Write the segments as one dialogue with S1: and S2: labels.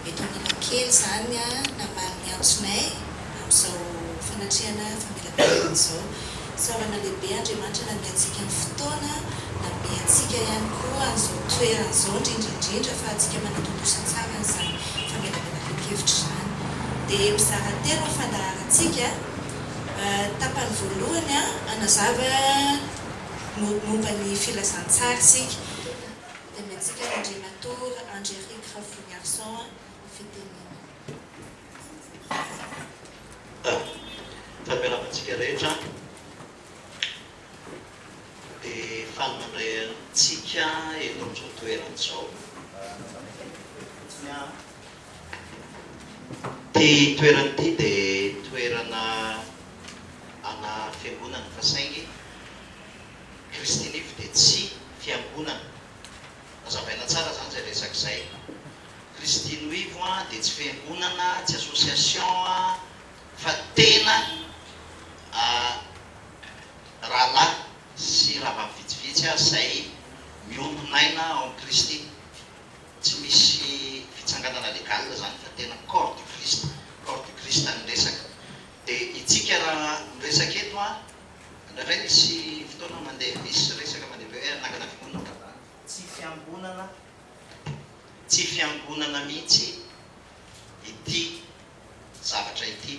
S1: Eto Analakely izany namaly ny antsonay amin'izao fanatrehana famelan-keloka izao. Fisaorana lehibe Andriamanitra nanome antsika ny fotoana, nanome antsika ihany koa an'izao toerana izao indrindra indrindra fa antsika manatontosa tsara an'izany famelabelaran-kevitra izany. Dia mizara telo ny fandaharantsika, tapany voalohany hanazava momba ny filazantsara isika. dia ny antsika Randrianator
S2: Andry Eric Rafoniarison no fitenenana. Raha miarahaba antsika rehetra dia faly mandray antsika eto amin'izao toerana izao. Ity toerana ity dia toerana ana fiangonana fa saingy. Christy Life dia tsy fiangonana, azavaina tsara zany zay resaka zay, Christy Nuivo an dia tsy fiangonana, tsy association an, fa tena rahalahy sy rahavavy vitsivitsy aza zay miombon'aina ao amin'i Christy, tsy misy fitsanganana legal zany fa tena corps du Christ, corps du Christ ny resaka, dia itsika raha miresaka eto an, Indraindray misy fotoana mandeha misy resaka mandeha be hoe hanangana fiangonana fa zany tsy fiangonana tsy fiangonana mihitsy ity zavatra ity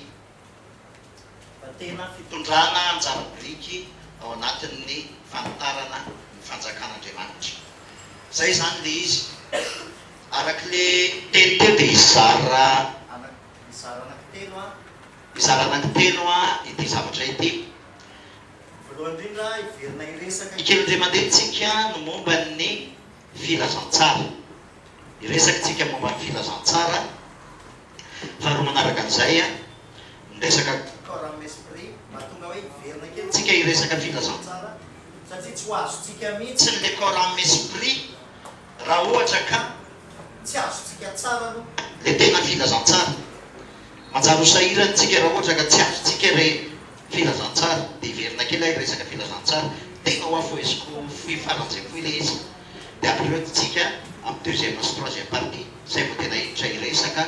S2: fa tena fitondrana anjara biriky ao anatin'ny fanitarana ny fanjakan'Andriamanitra. Zay zany le izy arak'le teny teo de izy zara anaky zara anaky telo an! Mizara anankitelo ity zavatra ity. Voalohany indrindra, hiverina hiresaka. Ny kely dia mandeha-tsika no momba ny filazantsara. Hiresaka tsika momba ny filazantsara. Faharoa manaraka an'izay, miresaka. Corps amin'ny esprit, mahatonga hoe hiverina kely. Tsika hiresaka filazantsara. Satria tsy ho azontsika mihitsy ilay corps amin'ny esprit. Raha ohatra ka tsy azontsika tsara aloha. Dia tena filazantsara. Manjary ho sahirana isika raha ohatra ka tsy azontsika ilay filazantsara. Dia hiverina kely aho hiresaka filazantsara. Tena ho afoheziko fohy faran'izay fohy ilay izy. Dia ampirehotintsika amin'ny deuxième sy troisième partie. Izay vao tena hiditra hiresaka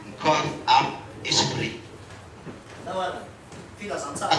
S2: ny corps, âme, esprit. Nahoana? Filazantsara.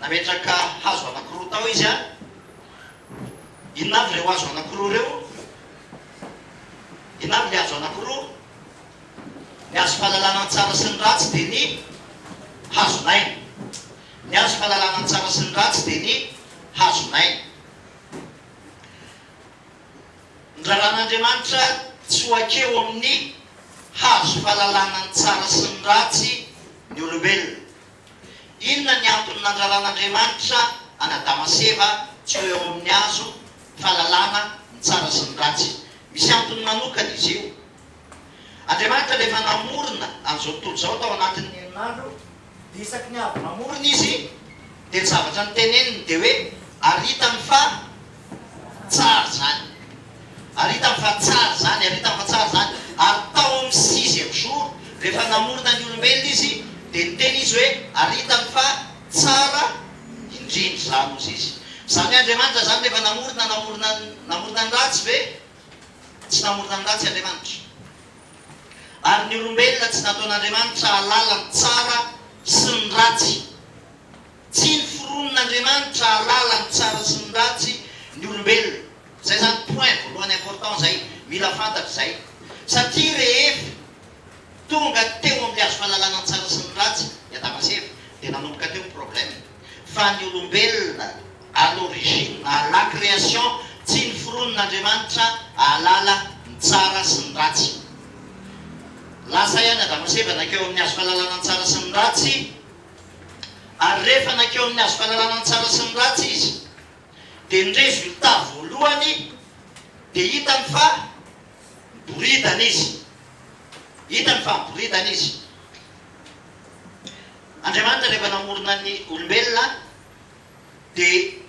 S2: Nametraka hazo anankiroa tao izy an! Inona avy ireo hazo anankiroa ireo? Inona avy ilay hazo anankiroa? Ny hazo fahalalana ny tsara sy ny ratsy dia ny hazon'aina. Ny hazo fahalalana ny tsara sy ny ratsy dia ny hazon'aina. Ny raharahan'Andriamanitra tsy ho akeo amin'ny hazo fahalalana ny tsara sy ny ratsy ny olombelona. Inona ny antony nandraran'Andriamanitra an'Adama sy Eva tsy ho eo amin'ny hazo fahalalana ny tsara sy ny ratsy? Misy antony manokana izy io. Andriamanitra rehefa namorona an'izao tontolo izao tao anatin'ny herinandro dia isaky ny avy namorona izy dia ny zavatra noteneniny dia hoe ary hitany fa Tsara zany. Ary hitany fa tsara zany, ary hitany fa tsara zany. Ary tao amin'ny sixième jour, rehefa namorona ny olombelona Izy, dia niteny Izy hoe, ary hitany fa tsara indrindra izany, hozy Izy. Izany hoe Andriamanitra izany rehefa namorona, namorona, namorona ny ratsy ve? Tsy namorona ny ratsy Andriamanitra. Ary ny olombelona tsy nataon'Andriamanitra hahalala ny tsara sy ny ratsy. Tsy noforonin'Andriamanitra hahalala ny tsara sy ny ratsy ny olombelona. Zay zany point voalohany important zay, mila fantatra zay. Satria rehefa tonga teo amin'ny hazo fahalalana ny tsara sy ny ratsy i Adama sy Eva dia nanomboka teo ny problème. Fa ny olombelona à l'origine, à la création, tsy noforonin'Andriamanitra hahalala ny tsara sy ny ratsy. Lasa ihany Adama sy Eva nakeo amin'ny hazo fahalalana ny tsara sy ny ratsy. Ary rehefa nankeo amin'ny hazo fahalalana ny tsara sy ny ratsy izy, dia nirevy ny taha voalohany, dia hitany fa miboridana izy. Hitany fa miboridana izy. Andriamanitra rehefa namorona ny olombelona dia.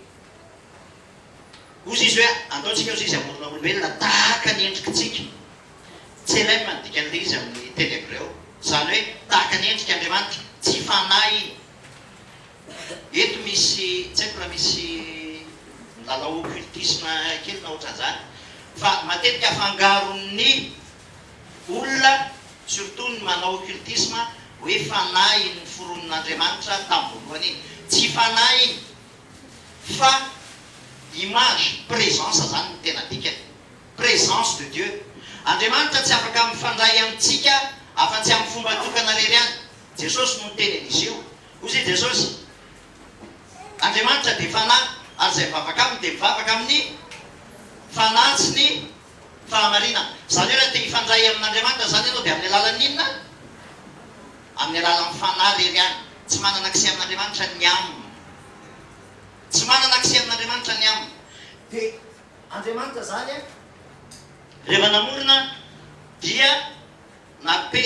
S2: Hoy Izy hoe, Andaontsika hozy izy hamorona olombelona tahaka ny endrikitsika. Tselem no dikan'ilay izy amin'ny teny hebreo, izany hoe tahaka ny endrik' Andriamanitra. Tsy fanahy iny. Eto misy, tsy haiko raha misy milalao occultisme kely na ohatran'izany, fa matetika afangaron'ny olona, surtout ny manao occultisme, hoe fanahy iny noforonin'Andriamanitra tamin'ny voalohany iny. Tsy fanahy iny. Fa image, présence zany no tena dikany. Présence de Dieu. Andriamanitra tsy afaka mifandray amintsika afa-tsy amin'ny fomba tokana rery ihany. Jesosy no niteny an'izy io. Hoy izy Jesosy, Andriamanitra dia Fanahy, ary izay mivavaka Aminy dia mivavaka amin'ny Fanahy sy ny fahamarinana. Izany hoe raha te hifandray amin'Andriamanitra izany ianao dia amin'ny alalan'ny inona? Amin'ny alalan'ny Fanahy irery ihany. Tsy manana accès amin'Andriamanitra ny âme. Tsy manana accès amin'Andriamanitra ny âme. Dia Andriamanitra izany rehefa namorona dia nape,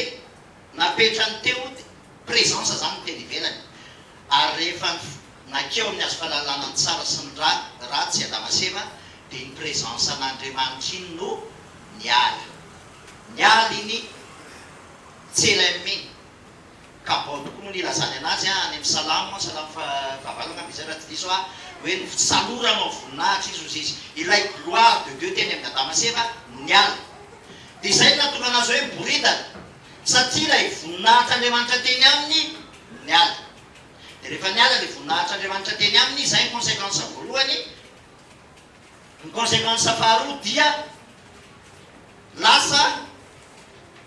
S2: napetra ny teo dia présence izany ny teny ivelany. Ary rehefa nakeo amin'ny hazo fahalalana ny tsara sy ny ra, ratsy, Adama sy Eva, dia iny présence an'Andriamanitra iny no niala. Niala iny. CLMI, ka bao tokoa no nilazany anazy any amin'ny Salamo, Salamo faha valo angamba izay raha tsy diso aho, hoe notsaloranao voninahitra izy, hozy izy. Ilay gloire de Dieu teny amin'ny Adama sy Eva no niala. Dia izay no nahatonga anazy hoe miboridana, satria ilay voninahitr'Andriamanitra teny aminy no niala. Dia rehefa niala ilay voninahitr'Andriamanitra teny aminy, izay ny consequence voalohany, Ny consequence faharoa dia lasa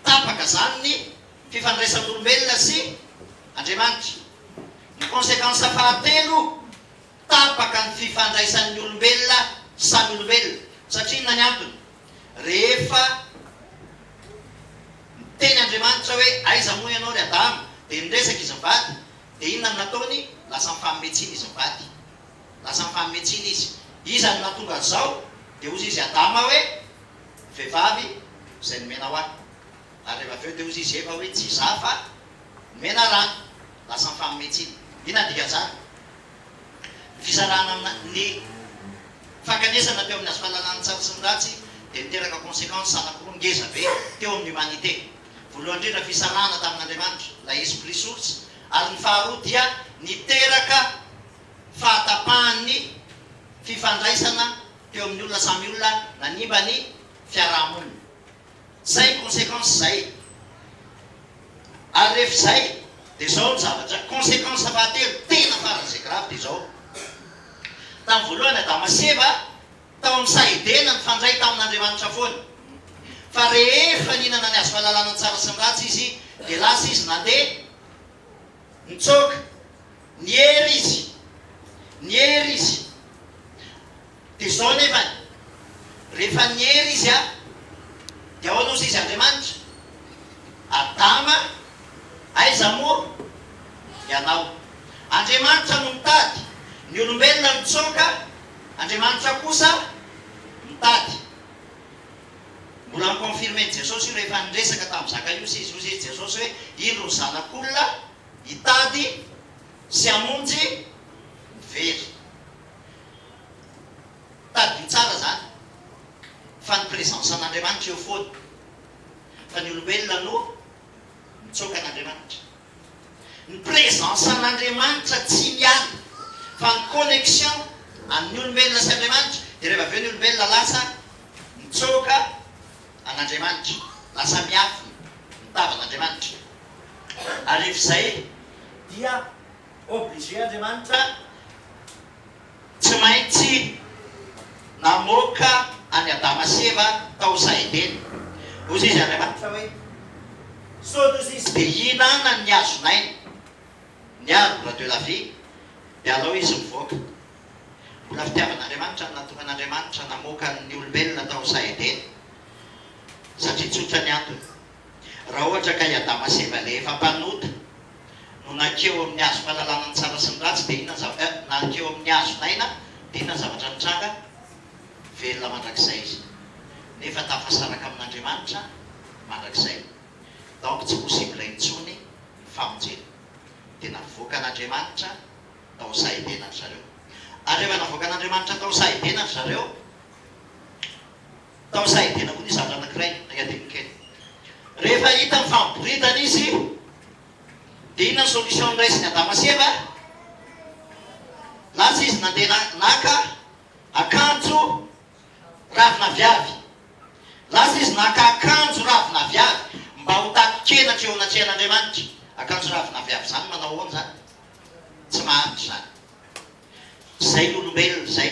S2: tapaka zany ny fifandraisan'olombelona sy Andriamanitra. Ny consequence fahatelo, tapaka ny fifandraisan'ny olombelona samy olombelona. Satria inona ny antony? Rehefa niteny Andriamanitra hoe aiza moa ianao ry Adama dia niresaka izy mivady dia inona no nataony? Lasa nifanometsina izy mivady. Lasa mifaninetsina izy. Iza no nahatonga an'izao? Dia hozy izy Adama hoe, Ny vehivavy izay nomena ho ahy. Ary rehefa avy eo dia hozy izy Eva hoe, Tsy izaho fa nomena raha ahy. Lasa mifaninetsina. Inona ny dikan'izany? Ny fisarahana amina, ny fankanesana teo amin'ny hazo fahalalana tsara sy ny ratsy dia niteraka conséquences anankiroa ngeza be teo amin'ny humanité. Voalohany indrindra fisarahana tamin'Andriamanitra, ilay Esprit Source, ary ny faharoa dia niteraka fahatapahan'ny fifandraisana teo amin'ny olona samy olona nanimba ny fiaraha-monina. Zay ny consequence zay. Ary ref zay de zao ny zavatra. Consequence fahatelo tena faran'izay grave de zao. Tamin'ny voalohany Adama sy Eva tao amin'ny saha Edena nifandray tamin'Andriamanitra foana. Fa rehefa nihinana ny hazo fahalalana ny tsara sy ny ratsy izy de lasa izy nandeha. Nitsoaka. Niery izy. Niery izy. Dia izao anefany, rehefa niery izy an, dia ahoana ozy izy Andriamanitra? Adama, aiza moa ianao? Andriamanitra no mitady. Ny olombelona mitsoaka, Andriamanitra kosa mitady. Mbola ni-confirmer-n'i Jesosy io rehefa niresaka tamin'i Zakaiosy izy. Hoy izy Jesosy hoe, Indro ny Zanak'olona hitady sy hamonjy ny very. Tadidio tsara izany fa ny présence an'Andriamanitra eo foana, fa ny olombelona no nitsoaka an'Andriamanitra. Ny présence an'Andriamanitra tsy miala, fa ny connexion an'ny olombelona sy Andriamanitra dia rehefa avy eo ny olombelona lasa mitsoaka an'Andriamanitra, lasa miafina ny tavan'Andriamanitra. Ary rehefa izay dia obligé Andriamanitra. Tsy maintsy namoaka an'i Adama sy Eva tao Zaha Edena. Hoy izy, Andriamanitra hoe, Sao toy izay tsy dia hihinana ny hazon'aina, ny arbre de la vie, dia alao izy mivoaka. Mbola fitiavan'Andriamanitra no nahatongan'Andriamanitra namoaka ny olombelona tao Zaha Edena, satria tsotra ny antony. Raha ohatra ka i Adama sy Eva ilay efa mpanota, no nakeo amin'ny hazo fahalalana ny tsara sy ny ratsy dia inona ny zavatra eh, nakeo amin'ny hazo n'aina dia inona ny zavatra nitranga, velona mandrakizay izy nefa tafasaraka amin'Andriamanitra mandrakizay donc tsy possible intsony ny famonjena dia navoakan'Andriamanitra tao Sahibena ry zareo ary rehefa navoakan'Andriamanitra tao Sahibena ry zareo Tao Sahidina koa nisy zandry anankiray nangadiany kely. Rehefa hita mifampiboridana izy dia inona ny solution noraisin'i Adama sy Eva? Lasa izy nandeha naka akanjo ravin'aviavy. Lasa izy naka akanjo ravin'aviavy mba ho taton-kena aty eo anatrehan'Andriamanitra. Akanjo ravin'aviavy izany manao ahoana izany? Tsy mahantra izany. Izay ny olombelona izay.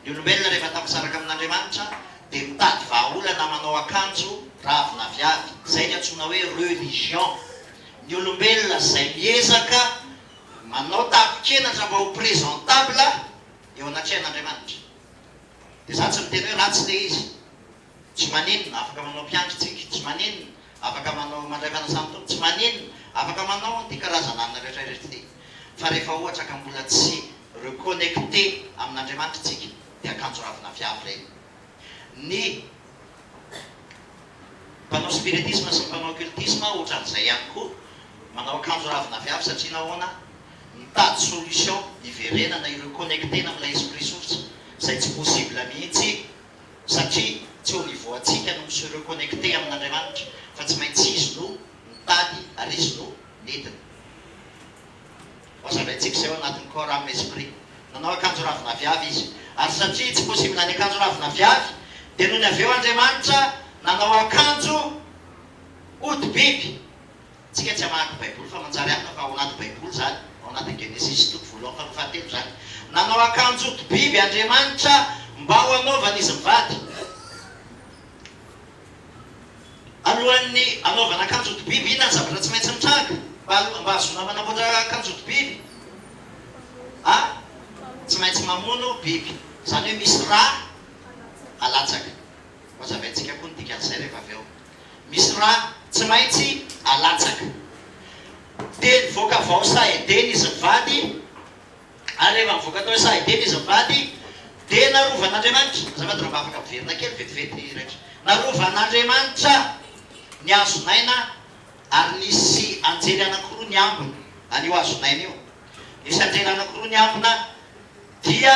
S2: Ny olombelona rehefa tafasaraka amin'Andriamanitra dia mitady vahaolana manao akanjo ravina avy avy. Izay ny antsoina hoe religion. Ny olombelona izay miezaka manao takokenatra mba ho presentable eo anatrehan'Andriamanitra. Dia za tsy miteny hoe ratsy ilay izy. Tsy maninona, afaka manao mpiandry tsiky, tsy maninona, afaka manao mandray fanasan'ny Tompo, tsy maninona, afaka manao an'ity karazan'anona rehetra ireto ity. Fa rehefa ohatra ka mbola tsy reconnecter amin'Andriamanitra isika dia akanjo ravina avy avy ireny. Ny mpanao spiritisme sy ny mpanao occultisme ohatran'izay ihany koa, manao akanjo ravina avy avy satria nahoana? Mitady solution hiverenana, hi-reconnecter-na amin'ilay esprit source izay tsy possible mihitsy. satria tsy au niveau antsika no mi-se reconnecter amin'Andriamanitra fa tsy maintsy Izy no mitady ary Izy no midina. Hohazavaintsika izay ao anatin'ny corps, âme, esprit. Nanao akanjo ravin'aviavy Izy, ary satria tsy possible ny akanjo ravin'aviavy dia nony avy eo Andriamanitra nanao akanjo hodi-biby. Tsika tsy hamaky baiboly fa manjary amina fa ao anaty baiboly izany ao anaty genesisy toko voalohany faharoa fahatelo izany nanao akanjo ody biby andriamanitra mba ho anaovany izy mivady alohan'ny anaovana akanjo ody biby inona ny zavatra tsy maintsy mitranga mba mba hahazoana manamboatra akanjo ody biby a tsy maintsy mamono biby izany hoe misy ra alatsaka mazavaintsika koa ny dikan'izay rehefa avy eo misy ra tsy maintsy alatsaka. Dia nivoaka vao Sahedena izy mivady, ary rehefa nivoaka tao Sahedena izy mivady, dia narovan'Andriamanitra, azafady raha mba afaka miverina kely vetivety Raiki, narovan'Andriamanitra ny hazon'aina ary nisy anjely anankiroa niambina an'io hazon'aina io, nisy anjely anankiroa niambina, Dia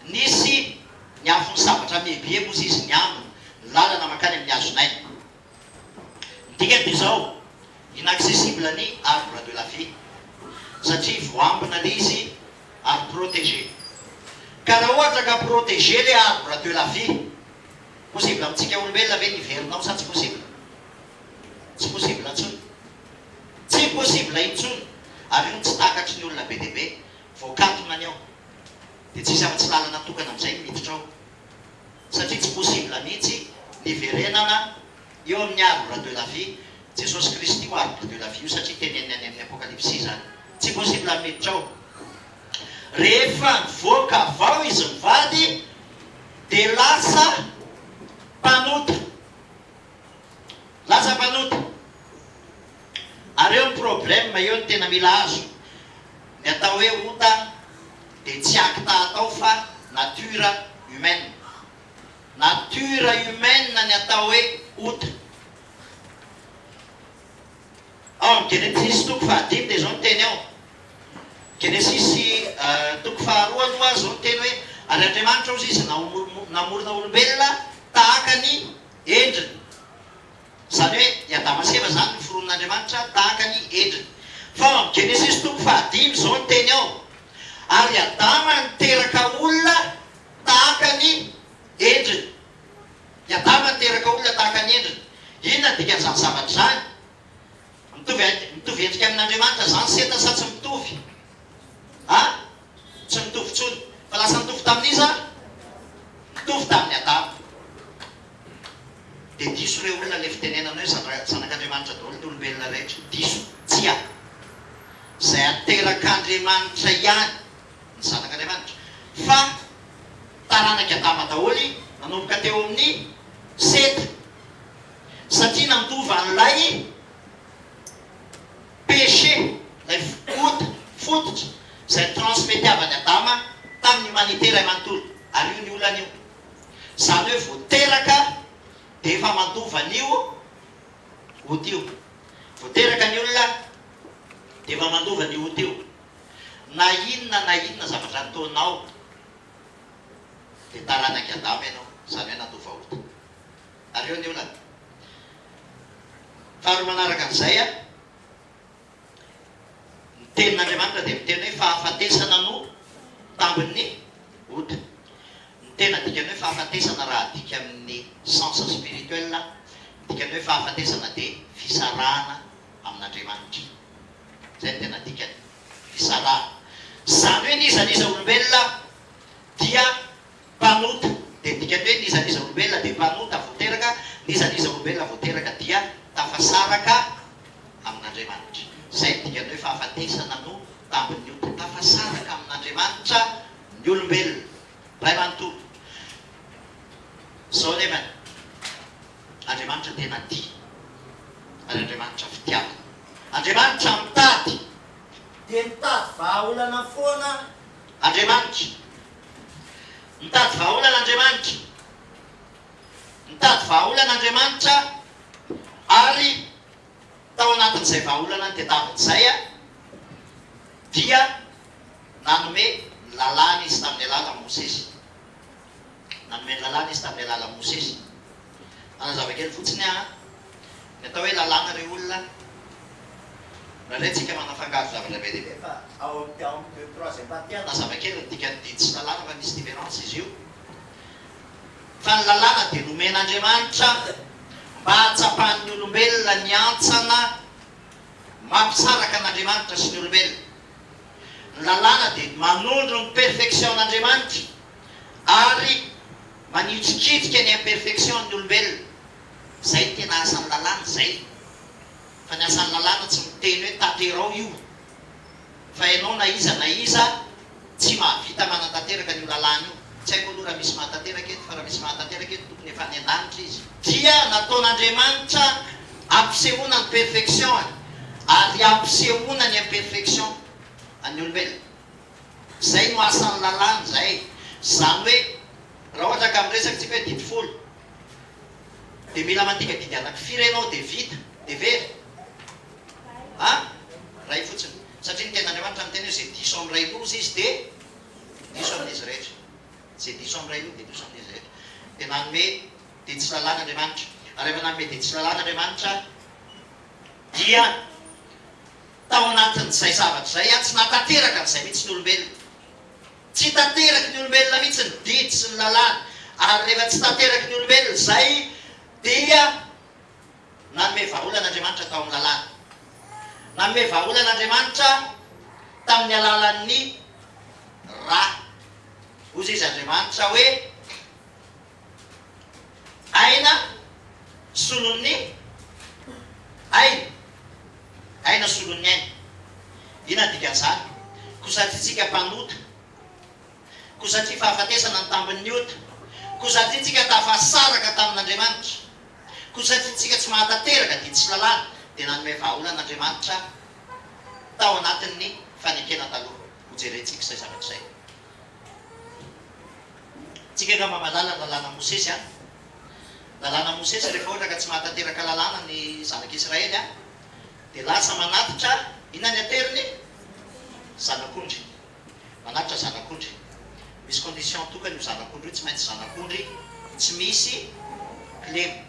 S2: nisy ny afon'ny sabatra mihebiheby hozy izy niambina ny lalana mankany amin'ny hazon'aina. Ny dikany dia izao, inaccessible ny arbre de la vie, satria voambina le izy ary protégé. Ka raha ohatra ka protégé le arbre de la vie, possible amintsika olombelona ve ny hiverina ao sa tsy possible? Tsy possible intsony. Tsy possible intsony. Ary io no tsy takatry ny olona be dia be. Voakatona ny ao, dia tsisy afa-tsy lalana tokana amin'izay ny miditra ao, satria tsy possible mihitsy ny hiverenana eo amin'ny arbre de la vie, Jesosy Kristy io arbre de la vie io, satria teneniny any amin'ny Apokalypsy izany. Tsy possible ny miditra ao. Rehefa nivoaka avy ao izy mivady, dia lasa mpanota. Lasa mpanota. Ary eo ny problème eo ny tena mila azo. Ny atao hoe ota dia tsy acte atao fa nature humaine. Nature humaine ny atao hoe ota. Ao amin'ny Genesis toko fahadimy dia izao ny teny ao. Genesis toko faharoa no azo ny teny hoe ary Andriamanitra ozy izy namorona olombelona tahaka ny endriny, izany hoe i Adama sy Eva izany no foronin'Andriamanitra tahaka ny endriny. Fa ao amin'ny Genesisy toko fahadimy izao ny teny ao, Ary Adama niteraka olona tahaka ny endriny. I Adama niteraka olona tahaka ny endriny. Inona ny dikan'izany zavatra izany? Mitovy mitovy endrika amin'Andriamanitra izany Seta sa tsy mitovy? A. Tsy mitovy intsony. Fa lasa nitovy tamin'iza? Nitovy tamin'i Adama. Dia diso ireo olona ilay fitenenana hoe zandra, zanak'Andriamanitra daholo ny olombelona rehetra. Diso. Tsia. Izay aterak'Andriamanitra ihany ny zanak'Andriamanitra. Fa taranak'i Adama daholo nanomboka teo amin'i Seta. Satria nandova an'ilay Péché, ilay ota, fototra, izay transmete-avan'i Adama tamin'ny humanité iray manontolo, ary io ny olana io. Izany hoe vao teraka dia efa mandova an'io ota io. Vao teraka ny olona dia efa mandova an'io ota io. Na inona na inona zavatra ataonao dia taranak'i Adama ianao, izany hoe nandova ota. Aleo andeha ho lany. Faharoa manaraka an'izay, ny tenin'Andriamanitra dia miteny hoe fahafatesana no tambin'ny ota. Ny tena dikan'ny hoe fahafatesana raha adika amin'ny sens spirituel, ny dikan'ny hoe fahafatesana dia fisarahana amin'Andriamanitra. Izay no tena dikany, fisarahana. Izany hoe ny iza n'iza olombelona dia Mpanota, dia midika hoe n'iza n'iza olombelona dia mpanota vao teraka, n'iza n'iza olombelona vao teraka dia tafasaraka amin'Andriamanitra. Izay no dikan'ny hoe fahafatesana no tambin'ny ota. Tafasaraka amin'Andriamanitra ny olombelona. Ray manontolo, izao anefa ny Andriamanitra tena tia, ary Andriamanitra fitiavana. Andriamanitra mitady. Dia mitady vahaolana foana Andriamanitra. Mitady vahaolana Andriamanitra. Nitady vahaolana Andriamanitra ary tao anatin'izay vahaolana tadiaviny izay dia nanome ny lalàna Izy tamin'ny alalan'i Mosesy. Nanome ny lalàna Izy tamin'ny alalan'i Mosesy. Hanazava kely fotsiny aho an. Ny atao hoe lalàna ry olona, raha renintsika manafangaro zavatra be dia be fa ao amin'ny ao amin'ny deux troisième partie hanazava kely ny dikan'ny didy sy lalàna fa misy difference izy io. Fa ny lalàna dia nomen'Andriamanitra mba hahatsapan'ny olombelona ny hantsana mampisaraka an'Andriamanitra sy ny olombelona. Ny lalàna dia manondro ny perfection-n'Andriamanitra. Ary manitsikitika ny imperfection ny olombelona. Zay ny tena asan'ny lalàna, zay. Fa ny asan'ny lalàna tsy miteny hoe tanterao io. Fa ianao na iza na iza tsy mahavita manatanteraka an'io lalàna io. Tsy haiko aloha raha misy mahatanteraka eto, fa raha misy mahatanteraka eto tokony efa any an-danitra izy. Dia nataon'Andriamanitra hampisehoana ny perfection-ny, ary hampisehoana ny imperfection an'ny olombelona. Izay no asan'ny lalàna izay. Izany hoe raha ohatra ka miresaka isika hoe didy folo dia mila mandika didy anaky firy ianao dia vita? Dia very? A! Iray fotsiny. Satria ny tenin'Andriamanitra miteny hoe izay diso amin'ny ray loza izy dia diso amin'izy rehetra. Izay diso amin'ny ray loza dia diso amin'izy rehetra. Dia nanome dia tsy lalàna Andriamanitra. Ary rehefa nanome dia tsy lalàna Andriamanitra dia Tao anatin'izay zavatra izay aho tsy nahatanteraka an'izay mihitsy ny olombelona. Tsy tanteraky ny olombelona mihitsy ny didy sy ny lalàna. Ary rehefa tsy tanteraky ny olombelona izay dia nanome vahaolana Andriamanitra tao amin'ny lalàny. Nanome vahaolana Andriamanitra tamin'ny alalan'ny ra. Hoy izy Andriamanitra hoe. Aina solon'ny aina, aina solon'ny aina. Inona ny dikan'izany? Koa satria tsika mpanota, koa satria fahafatesana ny tambin'ny ota, koa satria tsika tafasaraka tamin'Andriamanitra, koa satria tsika tsy mahatanteraka dia tsy lalàna, dia nanome vahaolana Andriamanitra tao anatin'ny fanekena taloha. Hojerentsika izay zavatra izay. Tsika angamba mahalala ny lalànan'i Mosesy an? Lalànan'i Mosesy, rehefa ohatra ka tsy mahatanteraka lalàna ny zanak'i Israely an, dia lasa manatitra inona ny ateriny? Zanak'ondry. Manatitra zanak'ondry. Misy condition tokana io zanak'ondry io, tsy maintsy zanak'ondry tsy misy kilema.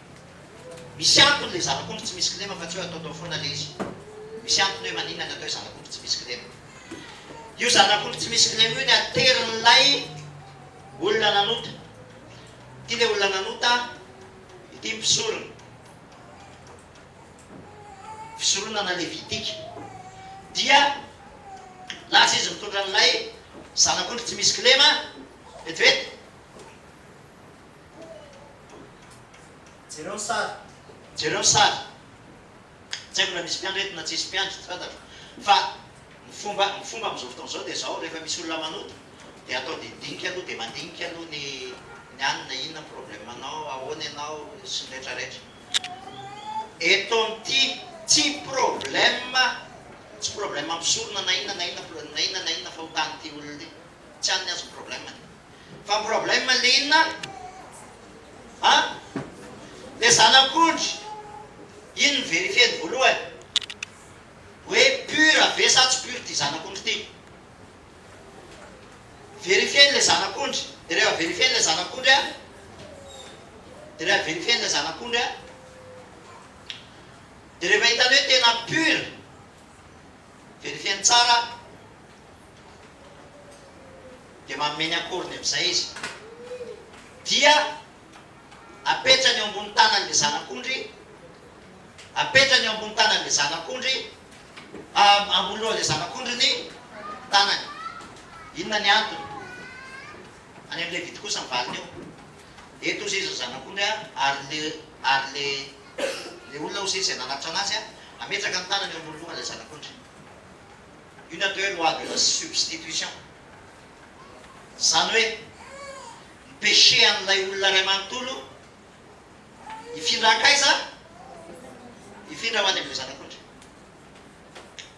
S2: Misy antony ilay zanak'ondry tsy misy kilema fa tsy hoe ataotao foana ilay izy. Misy antony hoe maninona ny atao hoe zanak'ondry tsy misy kilema. Io zanak'ondry tsy misy kilema io ny aterin'ilay olona nanota. Ity ilay olona nanota, ity ny mpisorona. Fisoronana levitika. Dia lasa izy mitondra an'ilay zanak'ondry tsy misy kilema, vetivety. Jereo ny sary. Jereo ny sary. Tsy haiko na misy mpiandry eto na tsisy mpiandry, tsy fantatro. Fa ny fomba ny fomba amin'izao fotoana izao dia izao, rehefa misy olona manota dia atao didinika aloha, dia mandinika aloha ny ny anona, inona ny problème-nao, ahoana ianao, sy ny rehetra rehetra. Eto amin'ity tsy problème, tsy problème mpisorona na inona na inona na inona na inona fahotan'ity olona ity. Tsy an'ny azy ny problème-ny. Fa ny problème le inona a? An? Le zanak'ondry iny no verifier-ny voalohany hoe pur ve sa tsy pur ty zanak'ondry ty. Verifier-ny le zanak'ondry. De rehefa verifier-ny le zanak'ondry a, de rehefa verifier-ny le zanak'ondry a, de rehefa hitany hoe tena pur, verifier-ny tsara. dia manome ny akoriny amin'izay izy. Dia apetrany eo ambony tanan'ilay zanak'ondry, apetrany eo ambony tanan'ilay zanak'ondry, ambony lohan'ilay zanak'ondry ny tanany. Inona ny antony? Any amin'ny Levita kosa ny valiny eo. Eto hozy izy ny zanak'ondry a, ary le ary le le olona hozy izy izay nanavotra anazy a, ametraka ny tanany eo ambony lohan'ilay zanak'ondry. Une de loi de la substitution. Izany hoe ny péché an'ilay olona iray manontolo hifindra hankaiza? Hifindra ho any amin'ireo zanak'ondry.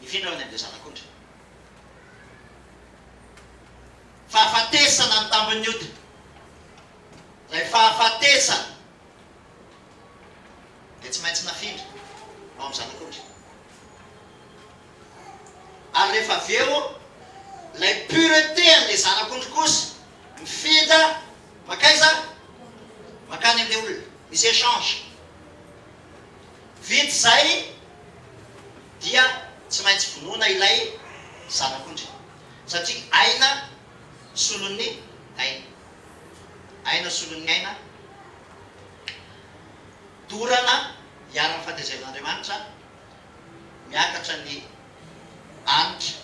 S2: Hifindra ho any amin'ireo zanak'ondry. Fahafatesana ny tambin'ny ota. Ilay fahafatesana dia tsy maintsy nafindra ho amin'ny zanak'ondry. ary rehefa avy eo ilay purete an'ilay zanak'ondry kosa mifindra mankaiza? mankany an'ilay olona, misy echange, vita izay dia tsy maintsy vonoina ilay zanak'ondry satria aina solon'ny aina, aina solon'ny aina, dorana iharan'ny fahatezeran'Andriamanitra miakatra ny hanitra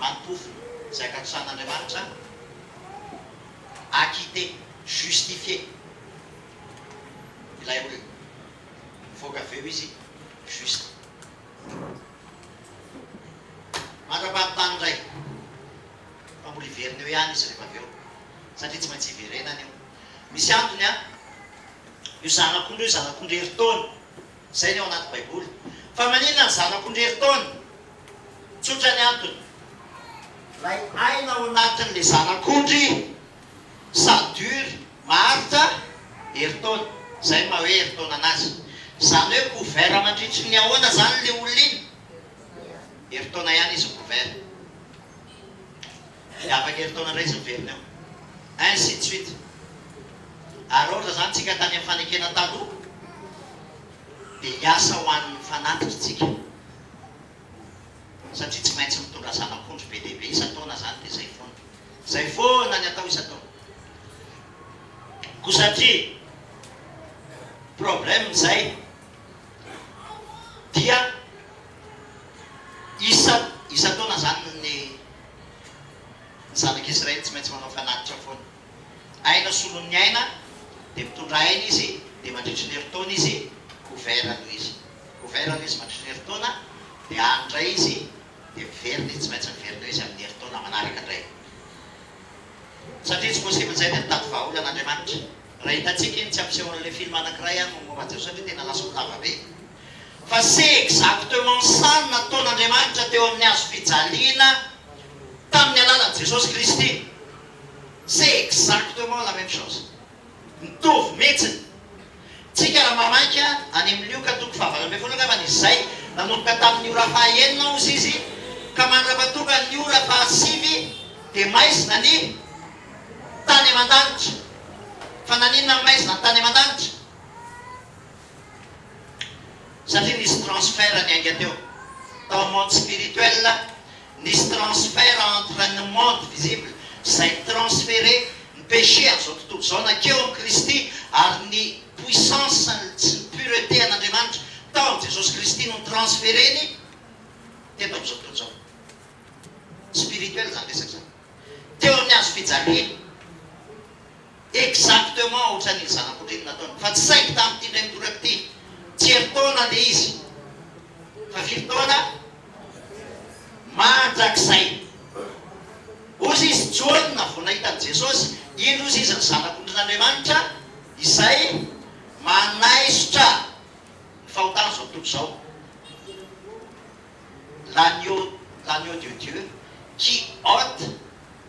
S2: antofony izay ankatosan'Andriamanitra acquitté, justifié ilay olona, mivoaka avy eo izy juste. Mandra-pahavitany indray fa mbola hiverina eo ihany izy rehefa avy eo satria tsy maintsy hiverenany io. Misy antony an! Io zanak'ondry io zanak'ondry herintaona Izay ny ao anaty Baiboly. Fa maninona ny zanako ndrery taona? Tsotra ny antony. Ilay aina ao anatin'le zanak'ondry ça dure, maharitra, herintaona. Izay ny maha hoe herintaona anazy. Izany hoe couvert mandritry ny ahoana izany le olona iny? Herintaona ihany izy micouvert. Dia afaka herintaona indray izy miverina eo. Ainsi de suite. Ary ohatra izany tsika tany amin'ny fanekena taloha dia hiasa ho an'ny fanatitra isika satria tsy maintsy mitondra zanak'ondry be dia be isan-taona izany dia izay foana. Izay foana ny atao isan-taona. Koa satria problème izay dia isa isan-taona izany ny Ny zanak'i Israely tsy maintsy manao fanatitra foana. Aina solon'ny aina, dia mitondra aina izy, dia mandritry ny herintaona izy, couvert aloha izy. Couvert aloha izy mandritry ny herintaona, dia any indray izy, dia miverina izy, tsy maintsy miverina eo izy amin'ny herintaona manaraka indray. Satria tsy possible izay dia mitady vahaolan'Andriamanitra. Raha hitantsika iny tsy ampisehoana ilay film anakiray ary momba Jesoa satria tena lasa ho lava be. Fa c'est exactement ça no nataon'Andriamanitra teo amin'ny hazo fijaliana tamin'ny alalan'i Jesosy Kristy. C'est exactement la même chose. Mitovy mihitsiny. Tsika raha mamaika any amin'ny Lioka toko faha valo ambin'ny folo angambany izy izay, nanomboka tamin'ny ora faha enina hozy izy ka mandrapatonga ny ora faha sivy dia maizina ny. tany aman-danitra. Fa naninona ny maizina no tany aman-danitra? Satria nisy transfert niainga teo. Tao amin'ny monde spirituel, nisy transfert entre ny monde visible izay ni-transfere ny péché amin'izao tontolo izao nankeo amin'i Kristy ary ny puissance sy ny pureté an'Andriamanitra tao amin'i Jesosy Kristy no ni-transfere-ny teto amin'izao tontolo izao. Spirituel izany resaka izany. teo amin'ny hazo fijaliana. Exactement ohatran'iny zanak'orinina ataony fa tsy saingy tamin'ity indray midoraka ity tsy herintaona le izy fa firy taona? Mandrakizay. Hozy izy, Jaona vao nahita an'i Jesosy, indro hozy izy ny zanak'ondrin'Andriamanitra izay manaisotra ny fahotan'izao tontolo izao. L'agneau l'agneau de Dieu qui ôte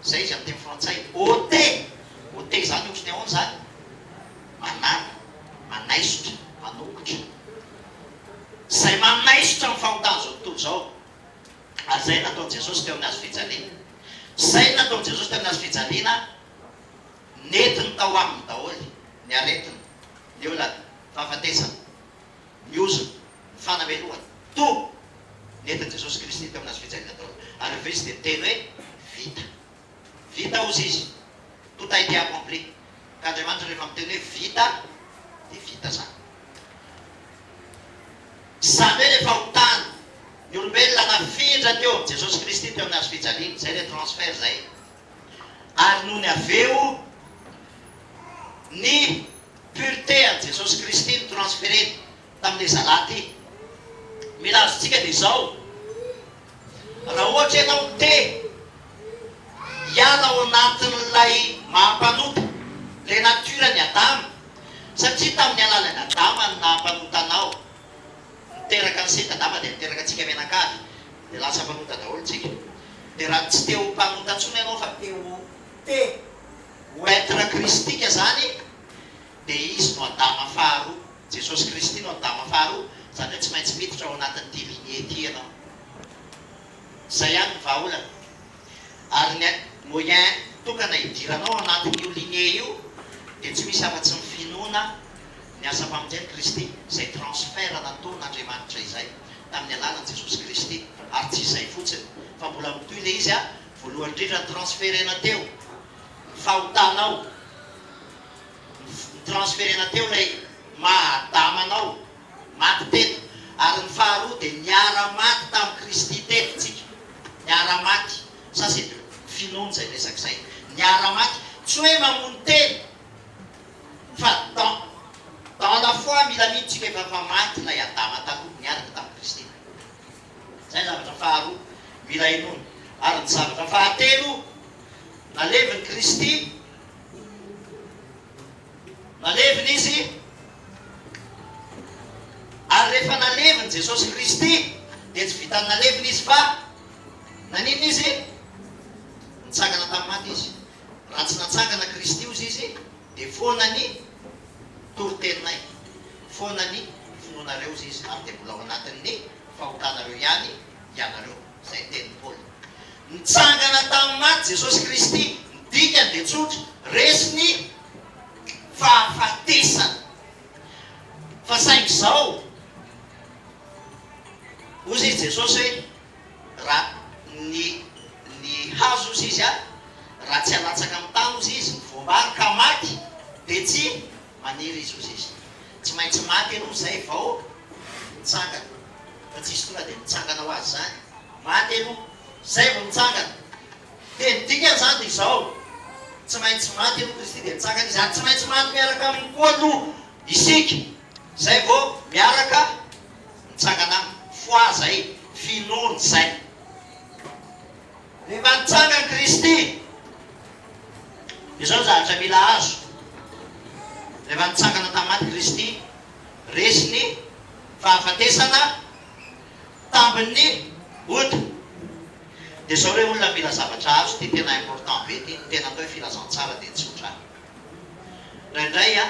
S2: zay izy amin'ny teny frantsay, ôte, ôte zany ohatry ny ahoana zany? manana, manaisotra, manongotra, zay manaisotra ny fahotan'izao tontolo izao, ary zay nataon'i Jesosy teo amin'ny hazo fijaliana, zay ny nataon'i Jesosy teo amin'ny hazo fijaliana nentiny tao aminy daholo ny aretiny, ny olany, fahafatesana. ny ozony, ny fanamelohany, toa nentin'i Jesosy Kristy teo amin'ny hazo fijaliana tao aloha. Ary ry Kristy dia niteny hoe, Vita. Vita, hozy Izy. Tout a été accompli. Ka Andriamanitra rehefa miteny hoe vita, dia vita izany. Izany hoe rehefa ho tany ny olombelona nafindra teo amin'i Jesosy Kristy teo amin'ny hazo fijaliana, izay ilay transfert izay. Ary nony avy eo ny. Pureté an'i Jesosy Kristy no transfere-ny tamin'ilay zalahy ity. Mila azontsika dia izao, raha ohatra ianao te hiala ao anatin'ilay maha mpanompo, ilay nature-n'i Adama, satria tamin'ny alalan'i Adama no naha mpanota anao, niteraka an'i Seta Adama dia niteraka antsika mianakavy, dia lasa mpanota daholo tsika. Dia raha tsy te ho mpanota intsony ianao fa te ho. Te ho être kristika zany dia izy no Adama faharoa, Jesosy Kristy no Adama faharoa, zany hoe tsy maintsy miditra ao anatin'ity lignée ity ianao. Zay ihany ny vahaolana. Ary ny moyen tokana hidiranao ao anatin'io lignée io dia tsy misy afa-tsy ny finoana ny asa famonjen'i Kristy, izay transfert nataon' Andriamanitra izay tamin'ny alalan'i Jesosy Kristy, ary tsy izay fotsiny fa mbola mitohy le izy Voalohany indrindra ny transfert-na teo ny fahotanao, ny transfert-na teo ilay maha Adama anao, maty teto, ary ny faharoa dia niara-maty tamin'i Kristy teto tsika, niara-maty, ça c'est de finoana izay resaka izay, niara-maty, tsy hoe mamono tena, fa dans, dans la foi mila mino tsika efa efa maty ilay Adama taloha, niaraka tamin'i Kristy. Izay ny zavatra faharoa mila inoana. Ary ny zavatra fahatelo nalevin'i Kristy, nalevina Izy, ary rehefa nalevin'i Jesosy Kristy dia tsy vitan'ny nalevina Izy fa naninona Izy? Nitsangana tamin'ny maty Izy. Raha tsy natsangana Kristy hozy Izy, Dia foana ny toriteninay, foana ny finoanareo hozy izy, ary dia mbola ao anatin'ny fahotanareo ihany ianareo. Izay ny tenin'i Paoly. Nitsangana tamin'ny maty Jesosy Kristy, ny dikany dia tsotra, resy ny fahafatesana. Fa saingy izao, hozy izy Jesosy hoe. Ra ny ny hazo ozy izy an, raha tsy alatsaka amin'ny tany ozy izy ny voam-bary ka maty dia tsy maniry izy ozy izy. Tsy maintsy maty aloha izay vao mitsangana fa tsisy tonga dia mitsangana ho azy izany. Maty aloha izay vao mitsangana. Dia ny dikany izany dia izao, tsy maintsy maty aloha Kristy dia mitsangana izy ary tsy maintsy maty miaraka aminy koa aloha isika izay vao miaraka Mitsangana aminy. Fohaza e! Finoany izay. Rehefa nitsangany Kristy, izao ny zavatra mila azo, rehefa nitsangana tamin'ny maty Kristy, resy ny fahafatesana tambin'ny ody. Dia izao re olona mila zavatra azo, ity tena important be ity, ny tena atao hoe filazantsara dia tsotra. Indraindray an.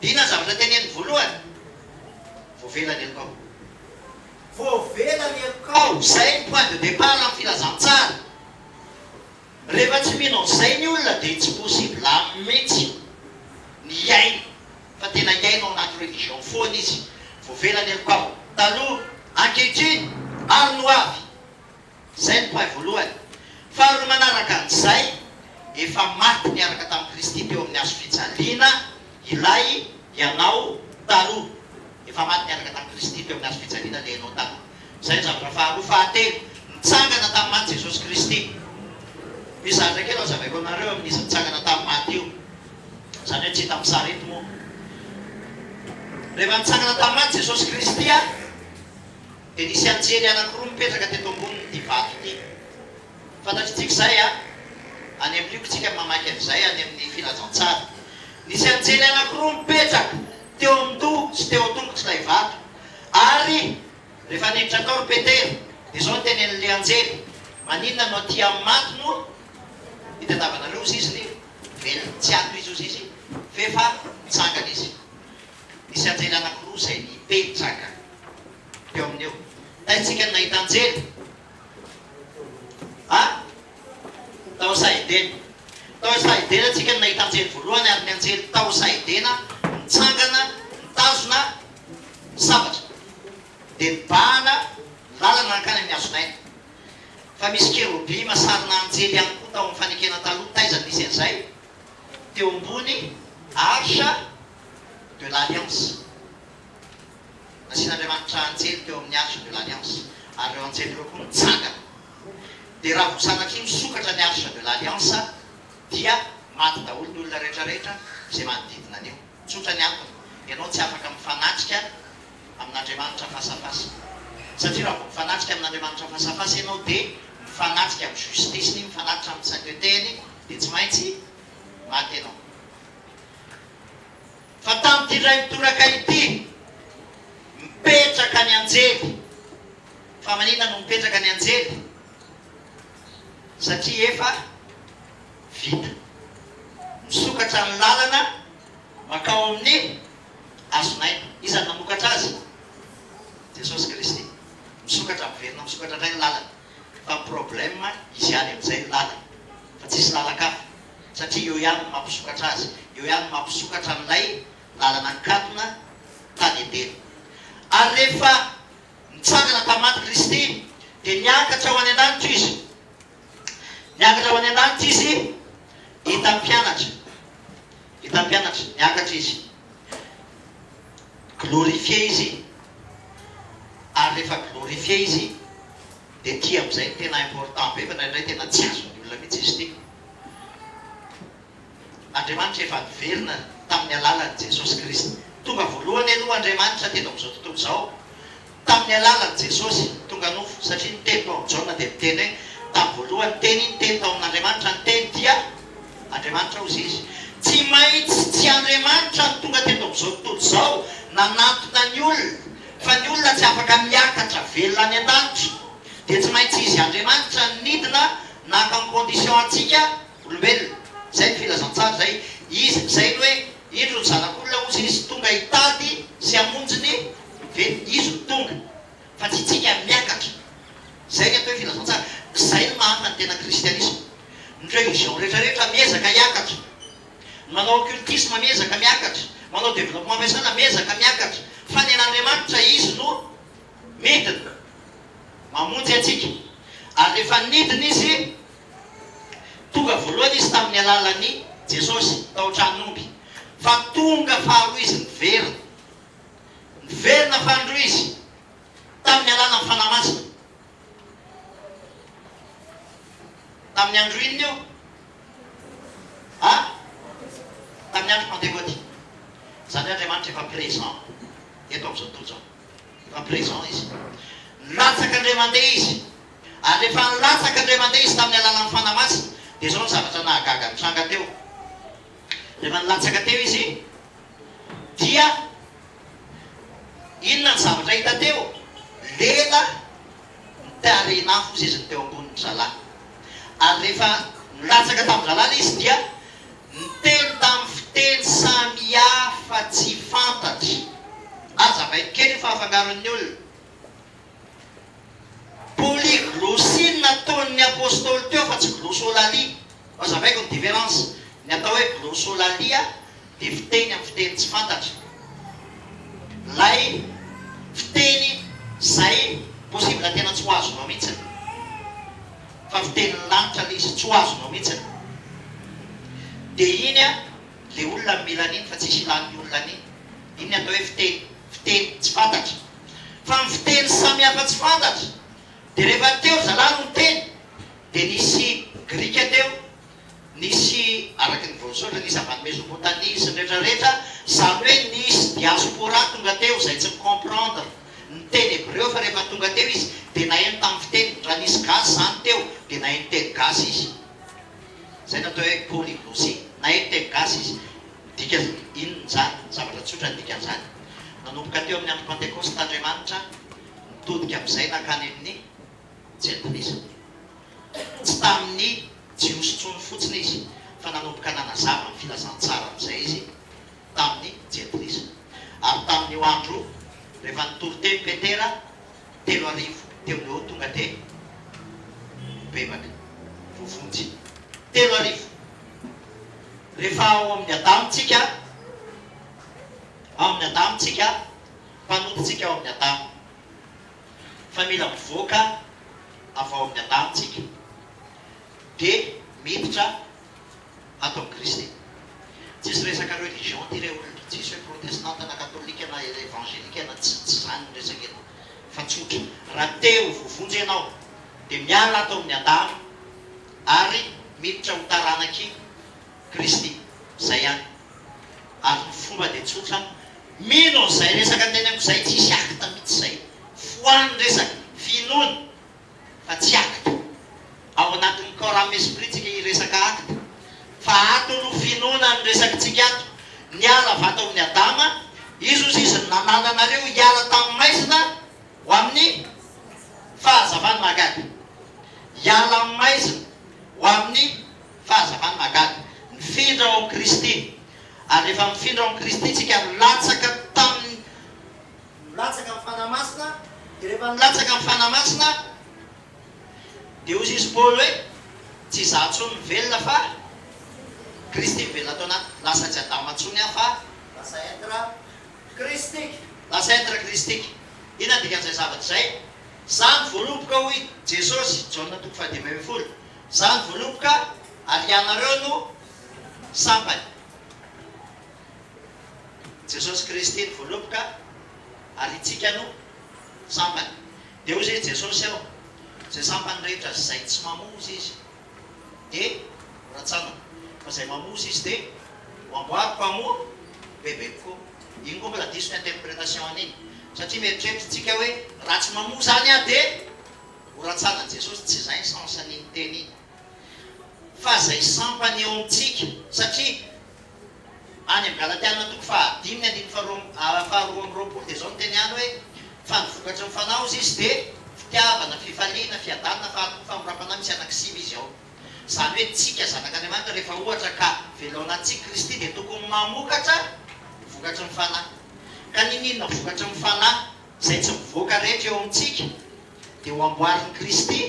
S2: Inona ny zavatra teneniny voalohany? Voavela ny helokao. Voavela ny helokao. Izay ny point de départ amin'ny filazantsara. Rehefa tsy mino an'izay ny olona dia tsy possible aminy mihitsy ny hiaina fa tena hiaina ao anaty religion foana izy. Voavela ny helokao. Taloha, ankehitriny ary ny ho avy. Izay no paille voalohany. Faharoa manaraka an'izay, efa maty niaraka tamin'i Kristy teo amin'ny hazo fijaliana ilay ianao taloha. Efa maty niaraka tamin'i Kristy teo amin'ny hazo fijaliana ilay ianao taloha. Izay no zavatra faharoa. Fahatelo, nitsangana tamin'ny maty Jesosy Kristy. Mizatra kely hazavaiko anareo amin'izy nitsangana tamin'ny maty io. Izany hoe tsy hita amin'ny sary eto moa. Rehefa nitsangana tamin'ny maty Jesosy Kristy, Dia nisy anjely anankiroa mipetraka teto ambonin'ity vato ity. Fantatritsika izay an! Any amin'ny lioka tsika mamaky an'izay any amin'ny Filazantsara. Nisy anjely anankiroa mipetraka teo amin'ny toha sy teo an-tongotr'ilay vato. Ary rehefa niditra tao ry Petera, dia izao no tenenin'ilay anjely, Maninona no aty amin'ny maty no itadiavanareo ozizy ny velona? Tsy ato izy ozizy, f'efa nitsangana izy. Nisy anjely anankiroa izay nipetraka teo aminy eo. Taitsika ny nahita anjely. A. Tao Sahedena. Tao Sahedena tsika no nahita anjely voalohany ary ny anjely tao Sahedena nitsangana nitazona sabatra dia nibahana ny lalana nankany amin'ny hazon'aina. Fa misy kerobima sarina anjely ihany koa tao amin'ny fanekena taloha taiza nisy an'izay teo ambony Arche. de l'Alliance. Nasian'Andriamanitra anjely teo amin'ny Arche de l'Alliance, ary ireo anjely ireo koa nitsangana. Dia raha vao sanatria misokatra ny Arche de l'Alliance, dia maty daholo ny olona rehetrarehetra izay manodidina an'io. Tsotra ny antony, ianao tsy afaka mifanatrika amin'Andriamanitra face à face. Satria raha vao mifanatrika amin'Andriamanitra face à face ianao, dia mifanatrika amin'ny justice-ny, mifanatrika amin'ny saintetehiny, dia tsy maintsy maty ianao. Fa tamin'ity indray mitoraka ity, mipetraka ny anjely. Fa maninona no mipetraka ny anjely? Satria efa vita. Misokatra ny lalana mankao amin'ny hazon'aina. Iza no namokatra azy? Jesosy Kristy. Misokatra, miverina misokatra indray ny lalana. Fa ny problème, izy ihany amin'izay ny lalana. Fa tsisy lalan-kafa. satria io ihany no mampisokatra azy, io ihany no mampisokatra an'ilay lalana nikatona tany Edena. Ary rehefa nitsangana tamin'ny maty Kristy, dia niakatra ho any an-danitra Izy. Niakatra ho any an-danitra Izy hitan'ny mpianatra. Hitan'ny mpianatra, niakatra Izy. Glorifié Izy, ary rehefa glorifié Izy, dia ity amin'izay no tena important be, fa indraindray tena tsy azon'ny olona mihitsy izy ity. Andriamanitra efa niverina tamin'ny alalan'i Jesosy Kristy. Tonga voalohany aloha Andriamanitra teto amin'izao tontolo izao tamin'ny alalan'i Jesosy tonga nofo, satria ny Teny tao amin'i Jaona dia miteny hoe tamin'ny voalohany ny Teny, ny Teny tao amin'Andriamanitra, ny Teny dia Andriamanitra, hozy Izy. Tsy maintsy tsy Andriamanitra no tonga teto amin'izao tontolo izao nanantona ny olona, fa ny olona tsy afaka miakatra velona any an-danitra, dia tsy maintsy Izy Andriamanitra no nidina Naka en condition antsika olombelona. Izay ny filazantsara izay. Izy izay ny hoe indro ny zanak'olona hozy izy tonga hitady sy hamonjy ny velona. Izy no tonga. Fa tsy tsika miakatra. Izay ny atao hoe filazantsara. Izay no mahantra ny tena kristianisma. Ny religion rehetra rehetra miezaka hiakatra. Ny manao occultisme miezaka miakatra. Manao développement fiasana miezaka miakatra. Fa ny an'Andriamanitra izy no. Midina, mamonjy antsika. Ary rehefa nidina Izy, tonga voalohany Izy tamin'ny alalan'i Jesosy, tao an-tranon'omby. Fa tonga faharoa Izy niverina. Niverina fanindroa Izy, tamin'ny alalan'ny Fanahy Masina. Tamin'ny andro inona io? A? Tamin'ny andro Pantekôty. Izany hoe Andriamanitra efa présent eto amin'izao tontolo izao. En prison izy. Nilatsaka indray mandeha izy. Ary rehefa nilatsaka indray mandeha izy tamin'ny alalan'ny Fanahy Masina, dia izao ny zavatra nahagaga nitranga teo. Rehefa nilatsaka teo izy, dia inona ny zavatra hita teo? Lela ny tarehin'afo seziny teo ambonin'ny zalahy. Ary rehefa nilatsaka tamin'ny zalahy ilay izy dia. Niteny tamin'ny fiteny samy hafa tsy fantatry. Aza mailo kely io fa afangaron'ny olona. Polyglossie no nataon'ny Apostoly teo fa tsy glossolalie. Aza maiko ny différence. Ny atao hoe glossolalia dia fiteny amin'ny fiteny tsy fantatra. Ilay fiteny izay possible tena tsy ho azonao mihitsy. Fa viteny ny lanitra le izy tsy ho azonao mitsy ny. De iny an le olona no mila an'iny fa tsisy ilany ny olona an'iny. Iny ny atao hoe fiteny, fiteny tsy fantatra. Fa ny fiteny samy hafa tsy fantatra. De rehefa teo ry zalahy no niteny de nisy grika teo. Nisy, araka ny voasoratra, nisy avy any Mesopotamia sy ny rehetra rehetra, izany hoe nisy diaspora tonga teo izay tsy mi-comprendre ny teny hebreo fa rehefa tonga teo izy dia naheno tamin'ny fiteniny, raha nisy gasy izany teo dia naheno teny gasy izy. Izay no atao hoe polyglosie. Naheno teny gasy izy. Midika inona izany? Zavatra tsotra ny dikan'izany. Nanomboka teo amin'ny andro Pantekosta Andriamanitra, nitodika amin'izay nankany amin'ny. Tsy anton'izany. Tsy tamin'ny Jiosy intsony fotsiny izy, fa nanomboka nanazava ny filazantsara amin'izay izy tamin'ny Jentilisa. Ary tamin'io andro io, rehefa nitory teny Petera, telo arivo teo no tonga dia nibebaka, voavonjy. Telo arivo! Rehefa ao amin'ny Adama tsika, ao amin'ny Adama tsika, mpanota tsika ao amin'ny Adama. fa mila mivoaka avy ao amin'ny Adama tsika dia miditra ato amin'i Kristy. Tsisy resaka religion ity re olona, tsisy hoe protestanta na katolika na evangelika na tsy tsy izany ny resaka eto fa tsotra, raha te ho voavonjy ianao dia miala ato amin'ny Adama ary miditra ho taranak'i Kristy. Izay ihany. Ary ny fomba dia tsotra, mino an'izay resaka teneniko izay, tsy hisy acte mihitsy izay. Foano ny resaka, finoana, fa tsy acte. Ao anatin'ny corps âme esprit tsika hiresaka acte. Fa ato no finoana no resakitsika ato. Niala vato amin'i Adama, izy hozy izy no nanala anareo hiala tamin'ny maizina ho amin'ny fahazavana mahagaga. Hiala amin'ny maizina ho amin'ny Fa aza hany mahagaga. Nifindra ao amin'i Kristy. Ary rehefa mifindra ao amin'i Kristy tsika, milatsaka tamin'ny. Milatsaka amin'ny Fanahy Masina, dia rehefa milatsaka amin'ny Fanahy Masina, dia hoy izy Paoly hoe, Tsy izaho intsony mivelona fa Kristy mivelona ato anatiko. Lasa tsy Adama intsony aho fa. Lasa être Kristika. Lasa être Kristika. Inona ny dikan'izay zavatra izay? Izaho ny voaloboka, hoy Jesosy, Jaona toko fahadimy ambin'ny folo. Za ny voaloboka ary ianareo no sampany. Jesosy Kristy ny voaloboka ary itsika no sampany. Dia hoy i Jesosy ao, Izay sampany rehetra izay tsy mamonjy Izy dia ho ratsanina, fa izay mamonjy Izy dia ho amboariko amo bebeko fo. Iny koa mbola diso ny interpretation an'iny, satria mieritreritra tsika hoe raha tsy mamonjy any aho dia Ho rantsanan'i Jesosy, tsy izay ny sens an'iny teny iny, fa izay sampany eo amintsika, satria any amin'ny Galatiana toko fahadimy andininy faharoa faharoa amby roapolo dia izao no teny any hoe, Fa ny vokatry ny Fanahy hozy izy dia, fitiavana, fifaliana, fiadanana, faharom-po, famindram-panahy, misy anankiray sivy izy ao. Izany hoe tsika zanak'Andriamanitra rehefa ohatra ka velonantsika Kristy dia tokony mamokatra vokatry ny Fanahy. Ka niniana vokatry ny Fanahy? Izay tsy mivoaka rehetra eo amintsika dia ho amboarin'i Kristy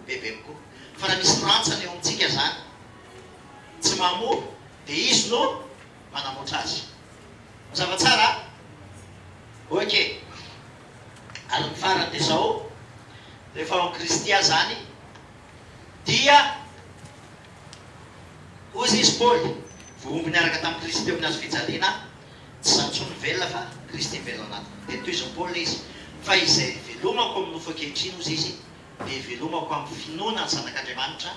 S2: bebe kokoa. Fa raha misy rantsana eo amintsika izany tsy mamoa dia Izy no manamboatra azy. Mazava tsara an? Ok. Ary ny farany dia izao, rehefa ao amin'i Kristy aho izany dia, hoy izy Paoly, vohomby niaraka tamin'i Kristy teo amin'ny hazo fijaliana aho, Tsy za intsony velona fa Kristy velona ao anatiko. Dia tohizin'i Paoly ilay izy, Fa izay hivelomako amin'ny nofo ankehitriny, hozy izy, dia hivelomako amin'ny finoana ny Zanak'Andriamanitra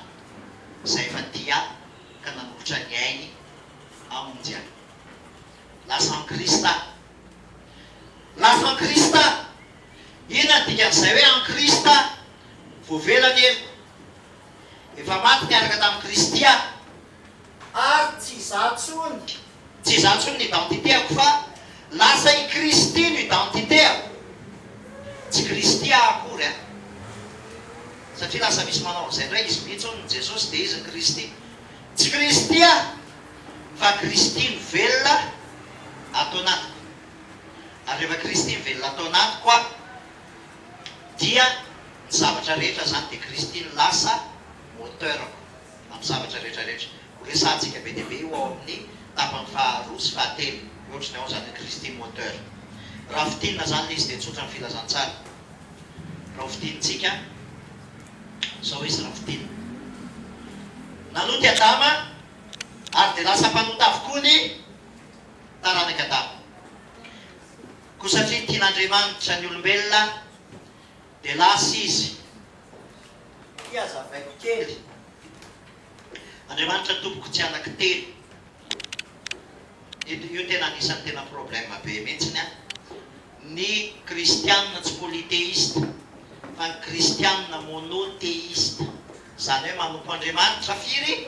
S2: izay efa tia ahy ka nanolotra ny ainy hamonjy ahy. Lasa an'i Kristy aho. Lasa an'i Kristy aho. Inona no dikan'izay hoe an'i Kristy aho? Voavela ny heloko. Efa maty niaraka tamin'i Kristy aho. ary tsy za tsony. Tsy za tsony ny identité-ako fa lasa i Kristy no identité-ako. Tsy Kristy aho akory an! Satria lasa misy manao an'izay indray, izy mihitsy hono ny Jesosy dia izy ny Kristy. Tsy Kristy aho fa Kristy no velona ato anatiko. Ary rehefa Kristy mivelona ato anatiko an, dia ny zavatra rehetra izany dia Kristy no lasa moteur-ko. amin'ny zavatra rehetra rehetra. Ho resahantsika be dia be io ao amin'ny tapany faha roa sy faha telo, ny ohatry ny ao izany Christie Moteur. Raha fintinina izany ilay izy dia tsotra ny filazantsara. Raha ho fintinintsika izao izy raha fintinina. Nanota i Adama ary dia lasa mpanota avokoa ny taranak'i Adama. Koa satria tian'Andriamanitra ny olombelona, Dia lasa izy. Ity hazavaiko kely. Andriamanitra tompoko tsy anaky telo. Io io tena anisan'ny tena problème be mihitsiny an. Ny kristianina tsy polythéiste fa ny kristianina monothéiste. Izany hoe manompo Andriamanitra firy?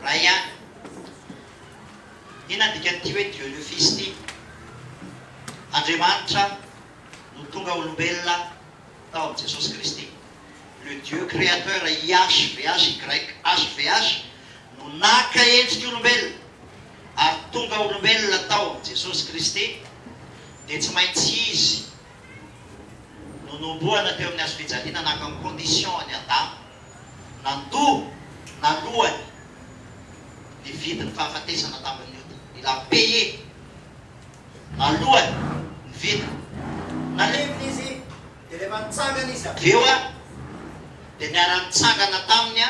S2: Iray ihany. Inona ny dikan'ity hoe dionyofisy ity? Andriamanitra. no tonga olombelona tao amin'i Jesosy Kristy. Le Dieu Créateur YHVHYHVH no naka endrik'olombelona ary tonga olombelona tao amin'i Jesosy Kristy dia tsy maintsy Izy no nombohana teo amin'ny hazo fijaliana naka ny condition an'i Adama nandoa nalohany ny vidin'ny fahafatesana tamin'ny ota. Il a payé. Alohany ny vita. Naleviny
S3: izy, dia rehefa nitsangana izy avy eo,
S2: dia niara-nitsangana taminy,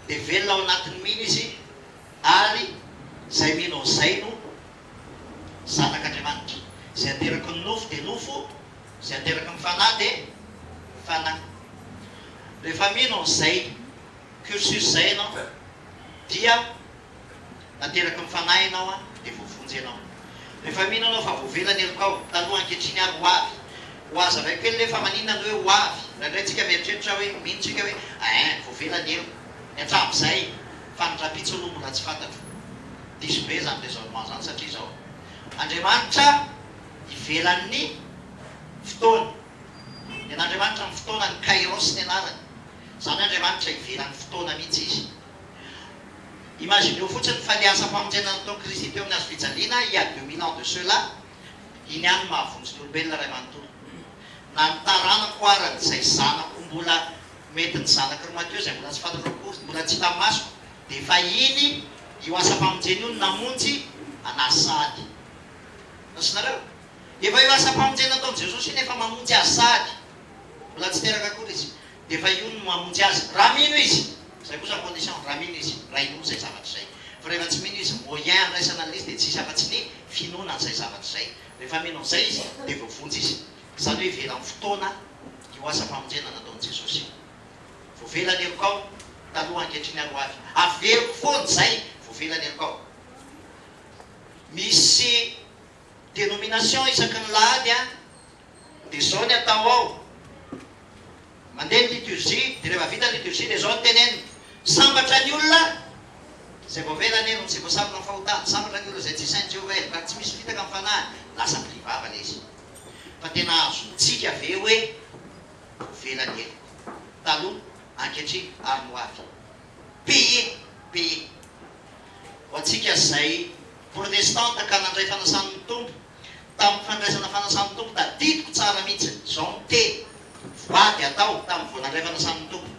S2: dia velona ao anatin'ny mino izy, ary izay mino an'izay no zanak'Andriamanitra. Izay ateraky ny nofo dia nofo, izay ateraky ny fanahy dia fanahy. Rehefa mino an'izay cursus izay ianao, dia. Nateraky ny Fanahy ianao dia voavonjy ianao. Rehefa mino ianao fa voavela ny helokao, tanoa ankehitriny ary hoavy. Hohazavaiko kely ve fa maninona ny hoe hoavy? Indraindray tsika mieritreritra hoe, mino tsika hoe, ain, voavela ny heloko. Ny hatramin'izay, fa ny rahampitso aloha mbola tsy fantatro. Diso be izany raisonnement izany satria izao. Andriamanitra ivelan'ny fotoana. Ny an'Andriamanitra amin'ny fotoanany, Kairos ny anarany. Izany hoe Andriamanitra ivelan'ny fotoana mihitsy Izy. Imagineo fotsiny fa ny asam-pamonjena nataon'i Kristy teo amin'ny hazofijaliana il y a deux mille ans de cela, iny ihany no mahavonjy ny olombelona iray manontolo. Na ny taranako ara izay zanako mbola, mety ny zanaky ry Matio izay mbola tsy fantatro akory, mbola tsy hita masoko, dia efa iny io asam-pamonjena io no namonjy anà sady. Raisonareo? Efa io asam-pamonjena nataon'i Jesosy iny efa mamonjy azy sady. Mbola tsy teraka akory izy. dia efa io no mamonjy azy raha mino izy, izay kosa condition, raha mino izy, raha inoa izay zavatra izay, fa rehefa tsy mino izy, moyen andraisana an'izy dia tsy hisy afa-tsy ny finoana an'izay zavatra izay, rehefa mino an'izay izy dia voavonjy izy, izany hoe ivelan'ny fotoana io asa famonjena nataon'i Jesosy io, voavela ny helokao taloha ankehitriny ary ho avy averiko foana izay voavela ny helokao, misy. Denomination isaky ny lahady a! Dia zao ny atao ao, mandeha ny liturgie, dia rehefa vita ny liturgie dia zao ny tenenina, Sambatra ny olona izay voavela anie no tsy voasambina amin'ny fahotana, sambatra ny olona izay tsy sain'i Jehovah ela, ka tsy misy fitaka amin'ny fanahiny, lasa mpidia vava anie izy. Fa tena azontsika ve hoe voavela ny ela? Taloha, ankehitriny ary ny ho avy. Payez! Payez! Ho antsika izay Protestanta ka nandray fanasan'ny Tompo. Tamin'ny fandraisana fanasan'ny Tompo, tadidiko tsara mihitsy izao ny teny voady atao tamin'ny vao nandray fanasan'ny Tompo,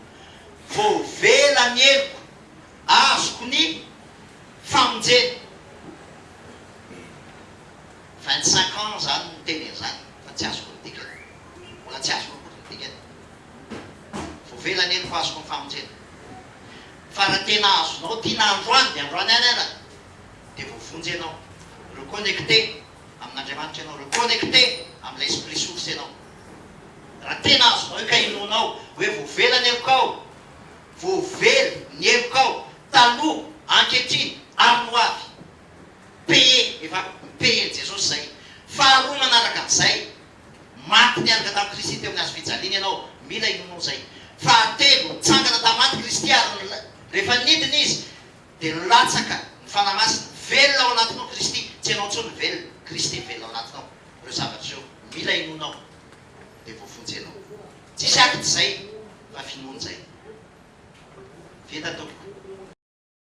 S2: Voavela ny heloko, azoko ny famonjena. Vingt cinq ans izany no niteny an'izany fa tsy azoko ny dikany. Mbola tsy azoko akory ny dikany. Voavela ny heloko, azoko ny famonjena. Fa raha tena azonao tiana androany dia androany ihany ara. dia voavonjy ianao. Reconnecter amin'Andriamanitra ianao, reconnecter amin'ilay Esprit Source ianao. Raha tena azonao ikainoanao hoe voavela ny helokao, voavela ny helokao taloha, ankehitriny ary ny ho avy. Paye, efa mi-paye-n'i Jesosy izay. Faharoa manaraka an'izay, maty niaraka tamin'i Kristy teo amin'ny Hazo fijaliana ianao, mila inoanao izay. Fahatelo, nitsangana tamin'ny maty Kristy ary rehefa nidina Izy Dia nilatsaka ny Fanahy Masina, velona ao anatinao Kristy, tsy ianao intsony ny velona, Kristy velona ao anatinao, ireo zavatra ireo mila inoanao dia voavonjy ianao. Tsisy acte izay fa finoana izay. Vita tompoko.